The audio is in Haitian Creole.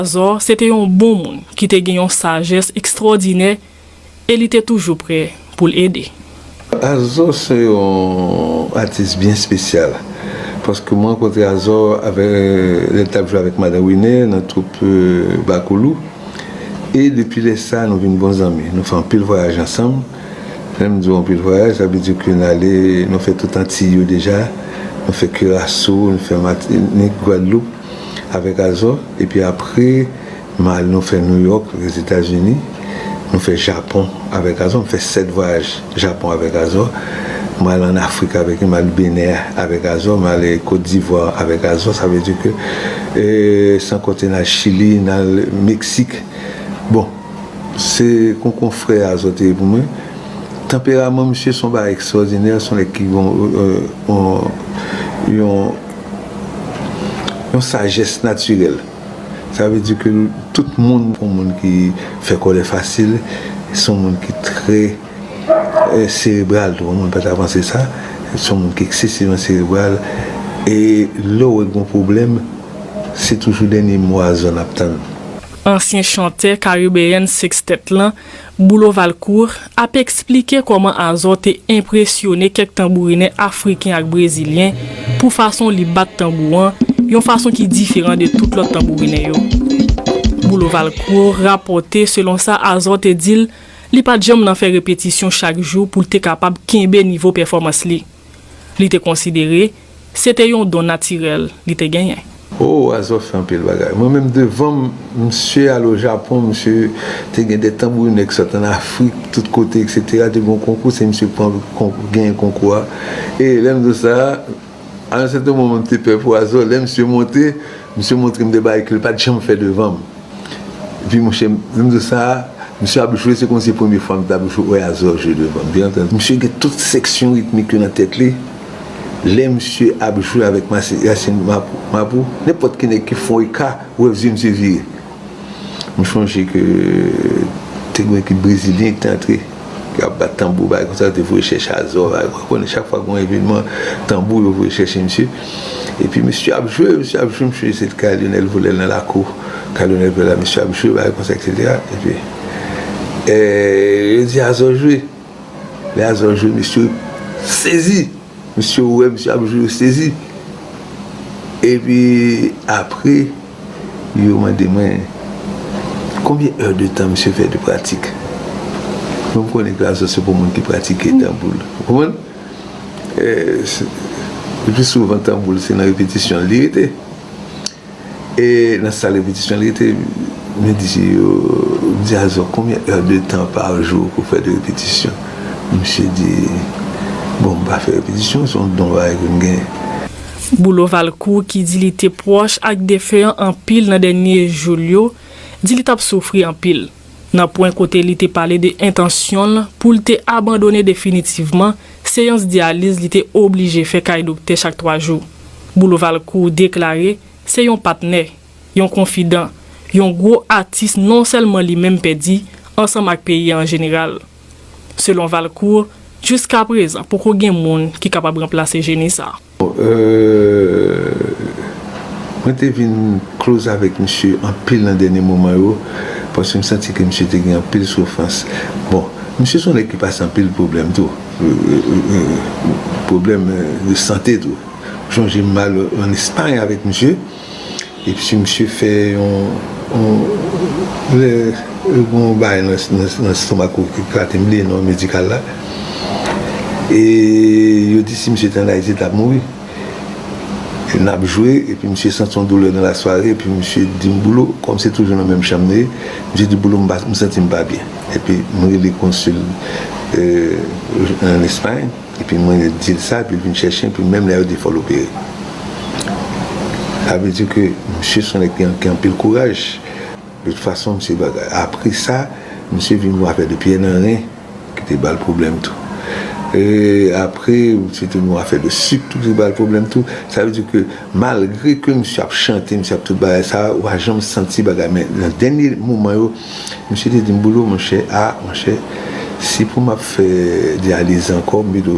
Almanzò se te yon bon moun ki te gen yon sajès ekstwòdinè e li te toujou prè pou l ede. Azò se yon atis byen espesyal paske mwen rankontre Azò avèk lè l t ap jwe avèk Madan Wine nan twoup Bakoulou e depi lè sa nou vin bon zanmi. Nou fè anpil vwayaj ansanm. Lè m di w anpil vwayaj, sa vle di ke n ale, nou fè tout Antiy yo deja. Nou fè Kiraso, nou fè Matinik, Gwadloup. Avèk Azò, epi apre m al nou fè Nouyòk, Lèzetazini, nou fè Japon avèk Azò, m fè 7 vwayaj Japon avèk Azò, m al an Afrik avèk li, m al Benè avèk Azò, m al Kot Divwa avèk Azò, sa vle di ke san konte n al Chili, n al Meksik. Bon, se kon konfrè Azò te ye pou mwen. Tanperaman misye se yon bagay ekstwòdinè, se yon nèg ki gen yon, yon. Yon sajès natirèl. Sa vle di ke tout moun. Yon moun ki fè kòlè fasil, se yon moun ki trè serebral tou. Yon moun pa ta panse sa. Se yon moun ki eksesivan serebral. E lè w wè gen yon pwoblèm, se toujou dènye mo a zòn ap tann. Ansyen chantè karibeyen Sextet lan Boulot Valcourt, ap esplike kòman Azor te enpresyone kèk tanbourinè afriken ak brezilyen pou fason li bat tanbou an, yon fason ki diferan de tout lòt tanbourinè yo. Boulot Valcourt rapòte selon sa Azor te di l, li pa t janm nan fè repetisyon chak jou pou l te kapab kenbe nivo pèfòmans li. Li te konsidere. Se te yon don natirèl li te genyen. Oh Wazò fè anpil bagay. Mwen menm devanm misye al o Japon misye te gen de tanbourinè ki sot an afrik tout kote etc te gen yon konkou se misye ki pran genyen konkou a e lèm di w sa a yon sèten moman m te pè pou Wazò lè misye monte misye montre m de bagay ke l pat janm fè devanm epi monchè lèm di w sa a misye ap jwe se kòmsi se premye fwa m tap wè Wazò jwe devanm misye gen tout seksyon ritmik yo nan tèt li. Lè misye ap jwe avèk Masè Yasin Mapou, nenpòt ki nèg ki fon eka, ou wè vye misye vire. M chonje ke te gen yon ekip brezilyen ki te antre, yo ap bat tanbou bagay konsa, yo te voye chèche Azor la, ou konnen chak fwa gen yon evenman tanbou yo voye chèche misye. Epi misye ap jwe, misye ap jwe, m chonje se te kay Lyonel Volè nan lakou, kay Lyonel Volè la misye ap jwe bagay konsa eksetera. Epi yo di Azor jwe. Lè Azor jwe misye sezi, misye wè misye ap jwe yo sezi. Epi apre yo mande mwen konbyen è de tan misye fè de pratik. Mwen m konnen ke Azor se pou moun ki pratike tanbou l. Ou konprann? Lepli souvan tanbou l se nan repetisyon l li rete. E nan sal repetisyon li rete mwen di je yo m di Azò konbyen è de tan pa jou pou fè de repetisyon misye di bon m pa fè repetisyon se yon don bagay ke m genyen. Boulo Valcourt ki di li te pwòch ak defen an anpil nan dènye jou l yo di li t ap soufri anpil. Nan pwen kote li te pale de entansyon l pou l te abandone definitivman seyans dyaliz li te oblije fè kay doktè chak 3 jou, Boulo Valcourt deklare se yon patnè, yon konfidan, yon gwo atis non sèlman li menm pèdi ansanm ak peyi an jeneral. Selon Valcourt, jiskaprezan poko gen moun ki kapab ranplase jeni sa. Mwen te vin close avèk misye anpil nan dènye moman yo, paske m santi ke misye te gen anpil soufrans. Bon, misye se yon nèg ki pase anpil pwoblèm tou, pwoblèm de sante tou. M sonje m al an Espagne avèk misye. Epsi misye fè yon lè gon yon bagay nan stomak ou ki klate mbliye non medikal la e yo di si misye te an ayiti li tap mouri nap jwe epi misye santi yon doulè nan la sware epi misye dim boulo kòm se toujou nan menm chanm nou ye misye di boulo m santim pa byen epi m rele konsil an espay. Epi mwen yo di l sa epi l vin chèche m epi menm lè yo di fò l opere. Sa vle di ke misye son nèg ki gen anpil kouraj. De tout fason misye apre sa misye vin gen afè de pyè nan ren ki te bal pwoblèm tou. E apre misye te gen afè de sik tou ki bal pwoblèm tou. Sa vle di ke malgre ke misye ap chante misye ap tout bagay sa ou pa janm santi bagay men nan dènye moman yo. Misye te di m, Bolo monchè, a monchè, si pou m ap fè dyaliz ankò, m pito